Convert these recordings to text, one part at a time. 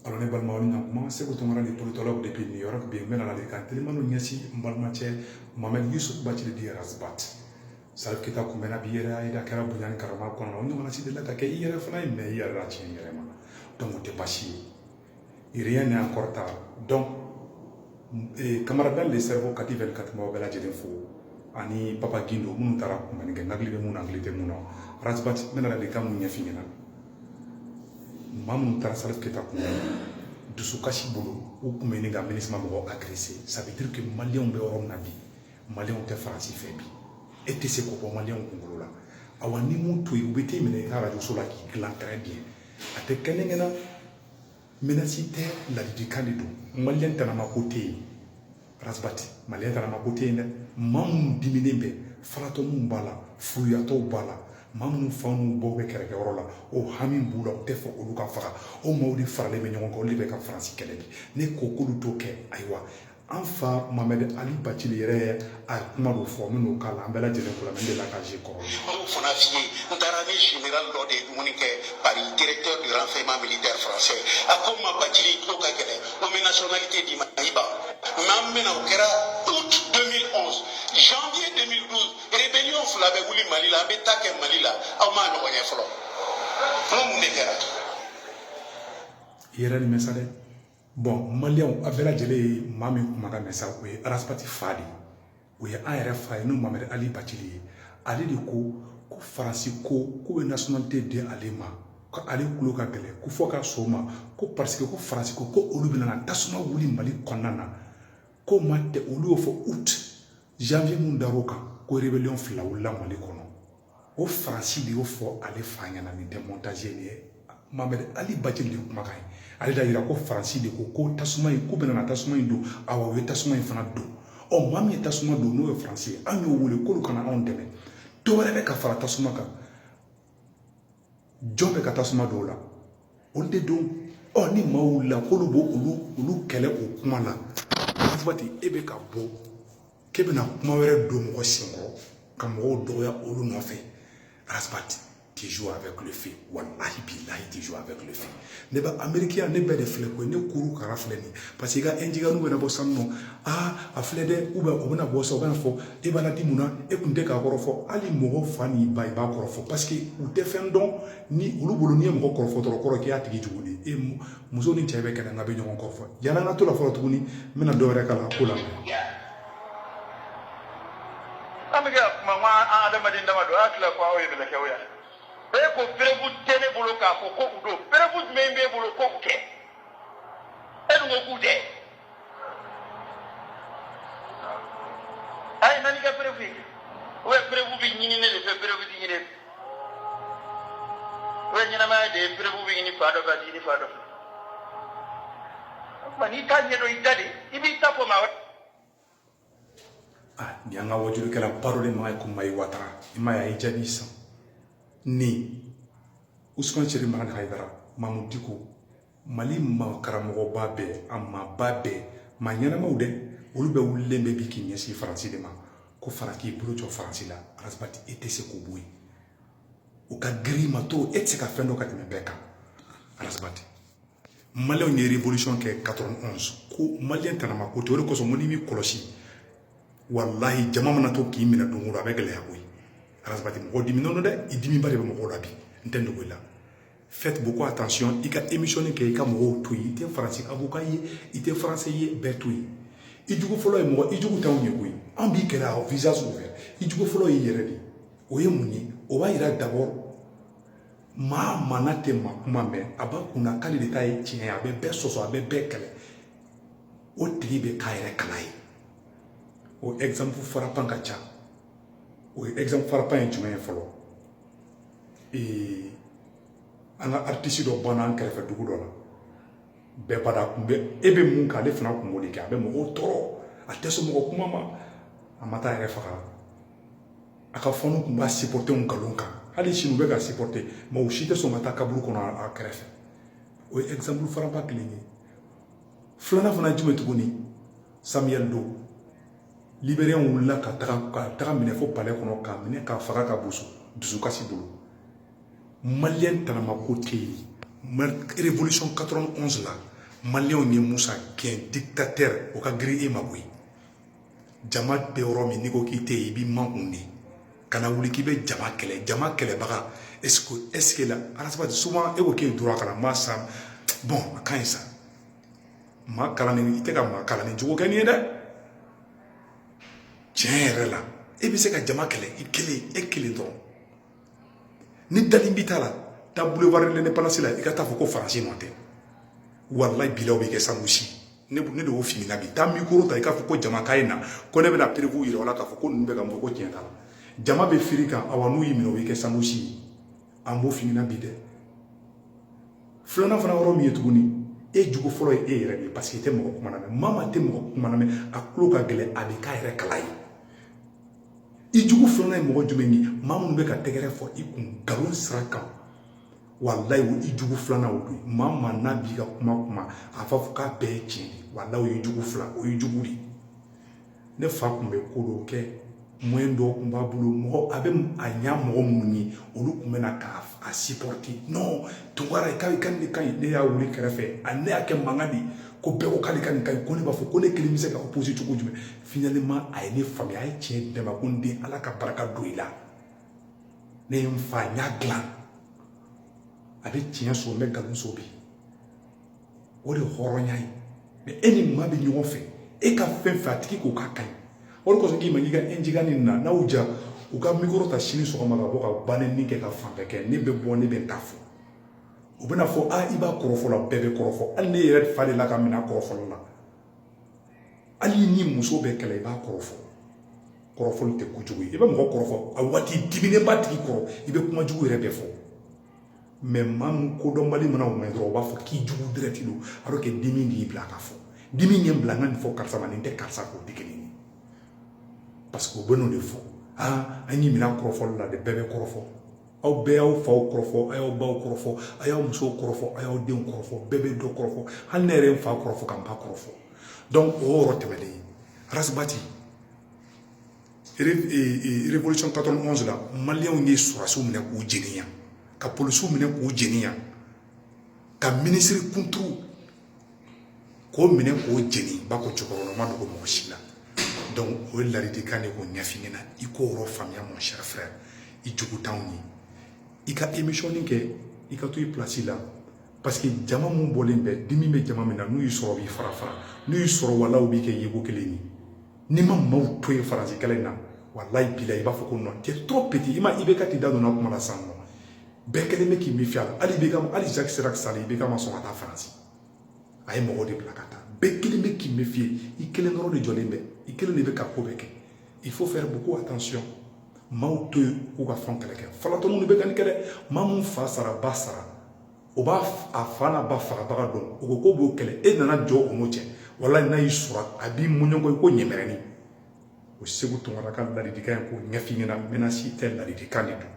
Alo ne balimaw na kuma seku tunkara dit politologue depuis New York bi n bɛna ladilikan telimaniw ɲɛsin n balimacɛ mamɛdi yusufu bacili dit Ras Bath salif keyita kunbɛnna bi yɛrɛ a kɛra bonya ni karama kɔnɔ o ɲɔgɔnna si delila ka kɛ i yɛrɛ fana ye mɛ i yɛrɛ la tiɲɛ yɛrɛ ma dɔn o tɛ basi ye yiriya ni an kɔrɔta don camarade Ben le Cerveau kati bɛ ka tɛmɛ bɛɛ lajɛlen fo ani papaji don minnu taara kun kɛ nali bɛ mun hakili tɛ mun na Ras Bath ne nana de ka min ɲɛfɔ i ɲɛna maa minnu taara salif keyita kun dusu kasisi bolo u tun bɛ nin ka mini ma mɔgɔ akirese sabitiririke malidenw bɛ yɔrɔ min na bi malidenw tɛ faransi fɛ bi e tɛ se k'o bɔ malidenw kunkolo la awa n'i m'o to yen u bɛ t'i minɛ i ka arajoso la k'i dilan kɛrɛn bi a tɛ kɛkɛ na menace tɛ ladilikan de don maliyɛn tanama ko tɛ yen Ras Bath maliyɛn tanama ko tɛ yen dɛ maa minnu diminen bɛ falatɔniw b'a la furuyatɔw b'a la maa minnu fa ni baw bɛ kɛlɛkɛyɔrɔ la o hami b'u la u tɛ fɛ olu ka faga o maaw de faralen bɛ ɲɔgɔn kan olu de bɛ ka faransi kɛlɛ bi ne ko k'olu t'o kɛ ayiwa an fa mamɛdi ali bacili yɛrɛ ye a ye kuma dɔ fɔ minnu k'a la an bɛɛ lajɛlen kura min de la ka se kɔrɔ anw fana fi ye n taara ni général dɔ de ye dumuni kɛ Paris directeur du renseignement militaire français a ko n ma bacili ko ka gɛlɛn ko min nationalité di i ma i ban mais an bɛna o kɛra août 2011 janvier 2012 rébellion fila bɛ wuli mali la an bɛ ta kɛ mali la aw m'a ɲɔgɔn ye fɔlɔ n ko mun de kɛra yɛrɛ nin mɛn sa dɛ aw bɛɛ lajɛlen ye maa min kumakan mɛn sa o ye Ras Bath fa de ye o ye an yɛrɛ fa ye n'o mamɛdi ali bacili ye ale de ko ko faransi ko k'u bɛ nationalité di ale ma ko ale tulo ka gɛlɛn ko fɔ ka so ma ko parce que ko faransi ko ko olu bɛna tasuma wuli mali kɔnɔna na ko ma tɛ olu y'o fɔ u tɛ janvier min dar'o kan ko rébellion fila wulila mali kɔnɔ o faransi de y'o fɔ ale fa ɲɛna nin tɛ montage nin ye mamɛdi ali bacili de kumakan ye ale d'a yira ko faransi de ko ko tasuma in k'u bɛna na tasuma in don awa u ye tasuma in fana don ɔ maa min ye tasuma don n'o ye faransi ye an y'o wele k'olu ka na anw dɛmɛ dɔ wɛrɛ bɛ ka fara tasuma kan jɔn bɛ ka tasuma don o la olu de don ɔ ni maaw wulila k'olu b'olu olu kɛlɛ o kuma na Ras Bath e bɛ ka bɔ k'e bɛna kuma wɛrɛ don mɔgɔ senkɔrɔ ka mɔgɔw dɔgɔya olu nɔfɛ Ras Bath tu joues avec le feu walahi bilahi tu joues avec le feu ne bɛ ameriki yan ne b'e de filɛ koyi ne kuru kara filɛ nin parce que i ka ɛnjigɛriw bɛna bɔ sa n nɔ aa a filɛ dɛ u bɛ o bɛna bɔ sa u bɛna fɔ e b'a di mun na e kun tɛ k'a kɔrɔfɔ hali mɔgɔ fa ni ba i b'a kɔrɔfɔ parce que u tɛ fɛn dɔn ni olu bolo n'i ye mɔgɔ kɔrɔfɔ dɔrɔn kɔrɔ k'i y'a tigi jugu de ye muso ni cɛ bɛ kɛlɛ nka bɛ ɲɔgɔn kɔrɔfɔ yala an ka to la fɔlɔ tuguni n bɛna dɔ wɛrɛ k'a la ko la an bɛ ka kuma an ka adamaden dama don a tila ko aw ye bɛlɛkɛw yan e ko perebu tɛ ne bolo k'a fɔ ko u don perebu jumɛn b'e bolo ko u tɛ e dun ko k'u tɛ a ye na n'a ka perebu ye o ye perebu bɛ ɲini ne de fɛ perebu tɛ ɲini o ye ɲɛnamaya de ye perebu bɛ ɲini fan dɔ fɛ a tɛ ɲini fan dɔ fɛ o tuma n'i t'a ɲɛdɔn i da de i b'i ta fɔ maa wɛrɛ ah nin y'an ka wajulikɛla baro de ma ye ko mayi watara i ma ye a ye jaabi san ni usman cerifu madani hayidara mamu diko mali ma karamɔgɔba bɛɛ a maaba bɛɛ maa ɲɛnamaw dɛ olu bɛɛ wulilen bɛ bi k'i ɲɛsin faransi de ma ko fara k'i bolo jɔ faransi la arasibati e tɛ se k'o bɔ yen o ka girin ma to e tɛ se ka fɛn dɔn ka tɛmɛ bɛɛ kan arasibati maliyɛnw ye révolution kɛ ka ko maliyɛn tana ma ko to o de kosɔn ko n'i m'i kɔlɔsi walahi jama mana to k'i minɛ don o don a bɛ gɛlɛya koyi arasabati mɔgɔ diminnen don dɛ i dimiba de bɛ mɔgɔw la bi n t'a dogo i la faites beaucoup attention i ka émission kɛ i ka mɔgɔw to yen i tɛ faransi avocat ye i tɛ français ye bɛɛ to yen i jugu fɔlɔ ye mɔgɔ i jugu t'anw ye koyi an b'i kɛlɛ à visage ouvert i jugu fɔlɔ y'i yɛrɛ de o ye mun ye o b'a yira d'abord maa min tɛ maa kuma mɛn a b'a kunna k'ale de ta ye tiɲɛ ye a bɛ bɛɛ sɔsɔ a bɛ bɛɛ kɛlɛ o tigi bɛ k'a yɛrɛ kala ye o ɛgizanpu farapan ka ca o ye ɛgizanpu farapan ye jumɛn ye fɔlɔ ee an ka aritisi dɔ banna an kɛrɛfɛ dugu dɔ la bɛɛ b'a dɔn a kun bɛ e bɛ min kɛ ale fana kun b'o de kɛ a bɛ mɔgɔw tɔɔrɔ a tɛ sɔn mɔgɔ kuma ma a ma taa a yɛrɛ faga a ka fanw tun b'a sipɔte nkalon kan hali sini u bɛ k'a sipɔte mais u si tɛ sɔn ka taa kaburu kɔnɔ a kɛrɛfɛ o ye ɛgizanpu farapan kelen ye filanan fana ye jumɛn tuguni samiyɛli do liberiyɛnw wulila ka taga ka tag'a minɛ fo palɛ kɔnɔ k'a minɛ k'a faga k'a boso dusukasi bolo maliyɛn tanama ko tɛ yen révolution 91 la maliyɛnw ye musa gɛn dictateur o ka girin e ma koyi jama bɛ yɔrɔ min n'i ko k'i tɛ yen i b'i makun de kana wuli k'i bɛ jama kɛlɛ jama kɛlɛbaga eseke eseke la arasibati souvent e ko k'e ye droit kalan maa sa bon a ka ɲi sa maa kalannen i tɛ ka maa kalannen jogo kɛ nin ye dɛ tiɲɛ yɛrɛ la e bɛ se ka jama kɛlɛ i kelen e kelen dɔrɔn ni dalilu b'i ta la taa boulevard de l'indépendance la i ka t'a fɔ ko faransi nɔ tɛ walayi bilayi o bɛ kɛ sanusi ne ne de y'o f'i ɲɛna bi taa mikoro ta i k'a fɔ ko jama k'a ye na ko ne bɛna perewu yira aw la k'a fɔ ko ninnu bɛ ka mɔgɔ ko tiɲɛ t'a la jama bɛ firi i kan awa n'u y'i minɛ o bɛ kɛ sanusi ye an b'o f'i ɲɛna bi dɛ filanan fana ye jumɛn ye tuguni e jugu fɔlɔ ye e yɛrɛ de ye parce que i tɛ mɔgɔ kuma lamɛn maa min tɛ mɔgɔ kuma lamɛn a tulo ka gɛlɛn a bɛ k'a yɛrɛ kala ye i jugu filanan ye mɔgɔ jumɛn ye maa minnu bɛ ka tɛgɛrɛ fɔ i kun nkalon sira kan walayi o i jugu filanan o don maa maa n'a b'i ka kuma kuma a b'a fɔ k'a bɛɛ ye tiɲɛ ye walayi o ye jugu fila o ye jugu de ye ne fa tun bɛ ko dɔw kɛ mɔyɛn dɔw tun b'a bolo mɔgɔ a bɛ a ɲa mɔgɔ minnu ye olu tun bɛ na k'a a sipɔrite non tunkara i ka i ka nin ka ɲi ne y'a wele kɛrɛfɛ ale y'a kɛ mankan de ye ko bɛɛ ko k'ale ka nin ka ɲi ko ne b'a fɔ ko ne kelen bɛ se ka opposer cogo jumɛn finalement a ye ne faamuya a ye tiɲɛ di n ma ko n den ala ka barika don i la ne ye n fa n y'a dilan a bɛ tiɲɛ sɔrɔ n bɛ nkalon sɔrɔ bi o de ye hɔrɔnya ye mɛ e ni maa bɛ ɲɔgɔn fɛ e ka fɛn fɛ a tigi k'o k'a ka ɲi o de kosɔn k'i ma k'i ka ɛnjiga nin na n'aw ja u ka mikoro ta sini sɔgɔma ka bɔ ka banni kɛ ka fɛn bɛɛ kɛ ne bɛ bɔ ne bɛ n ta fɔ u bɛna fɔ a i b'a kɔrɔfɔ la bɛɛ bɛ kɔrɔfɔ hali ne yɛrɛ fa delila ka n minɛ kɔrɔfɔli la hali ni muso bɛ kɛlɛ i b'a kɔrɔfɔ kɔrɔfɔli tɛ kojugu ye i bɛ mɔgɔ kɔrɔfɔ a waati diminen b'a tigi kɔrɔ i bɛ kuma jugu yɛrɛ bɛɛ fɔ mɛ maa min kodɔnbali mana o mɛn dɔrɔn u b'a fɔ k'i jugu direct don a bɛ kɛ dimi de y'i bila k'a fɔ dimi ye n bila n ka nin fɔ karisa ma nin tɛ karisa k'o di kelen ye parce que u bɛn'o de fɔ aa an y'i minɛ kɔrɔfɔli la de bɛɛ bɛ kɔrɔfɔ aw bɛɛ y'aw faw kɔrɔfɔ a y'aw baw kɔrɔfɔ a y'aw musow kɔrɔfɔ a y'aw denw kɔrɔfɔ bɛɛ bɛ dɔ kɔrɔfɔ hali ne yɛrɛ n fa kɔrɔfɔ ka n ba kɔrɔfɔ donc o yɔrɔ tɛmɛnen rasibati révolution 91 la maliyɛnw ye sɔrɔsiw minɛ k'u jeniya ka polisiw minɛ k'u jeniya ka minisiri kuntu k'o minɛ k'o jeni ba ko cɛkɔrɔba ma dogo mɔgɔ si la o ye ladilikan de k'o ɲɛf'i ɲɛna i k'o yɔrɔ faamuya mɔgɔ si fɛ i jugu t'anw ye i ka emisɔni kɛ i ka to i pilasi la parce que jama min bɔlen bɛ dimi bɛ jama min na n'u y'i sɔrɔ u b'i farafara n'u y'i sɔrɔ wala u b'i kɛ yeko kelen ye n'i ma maaw to yen faransi kɛlɛ in na walayi bilahi b'a fɔ ko nɔ tɛ to peti i ma i bɛ ka t'i da don a kuma la sinon bɛɛ kɛlen bɛ k'i mefiye hali ibk hali jacques chirac sa ibk ma sɔn ka taa faransi a ye mɔgɔw de bila ka taa bɛɛ kɛlen bɛ k'i mefiye i kelen dɔrɔn de jɔlen bɛ i kelen de bɛ ka ko bɛɛ kɛ il faut faire beaucoup attention maaw to yen k'u ka fɛn kɛlɛ kɛ falatɔ minnu bɛ ka nin kɛlɛ maa min fa sara ba sara o b'a a fa n'a ba fagabaga dɔn o ko k'o b'o kɛlɛ e nana jɔ o n'o cɛ wala n'a y'i sɔrɔ a b'i mɔɲɔnkɔ i ko ɲɛmɛrɛni o seku tunkara ka ladilikan ye k'o ɲɛf'i ɲɛna mɛnasi tɛ ladilikan de don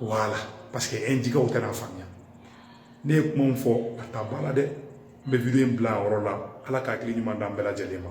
wala parce que e jikaw tɛn'a faamuya ne ye kuma min fɔ a ta ba la dɛ n bɛ video in bila a yɔrɔ la ala ka hakili ɲuman d'an bɛɛ lajɛlen ma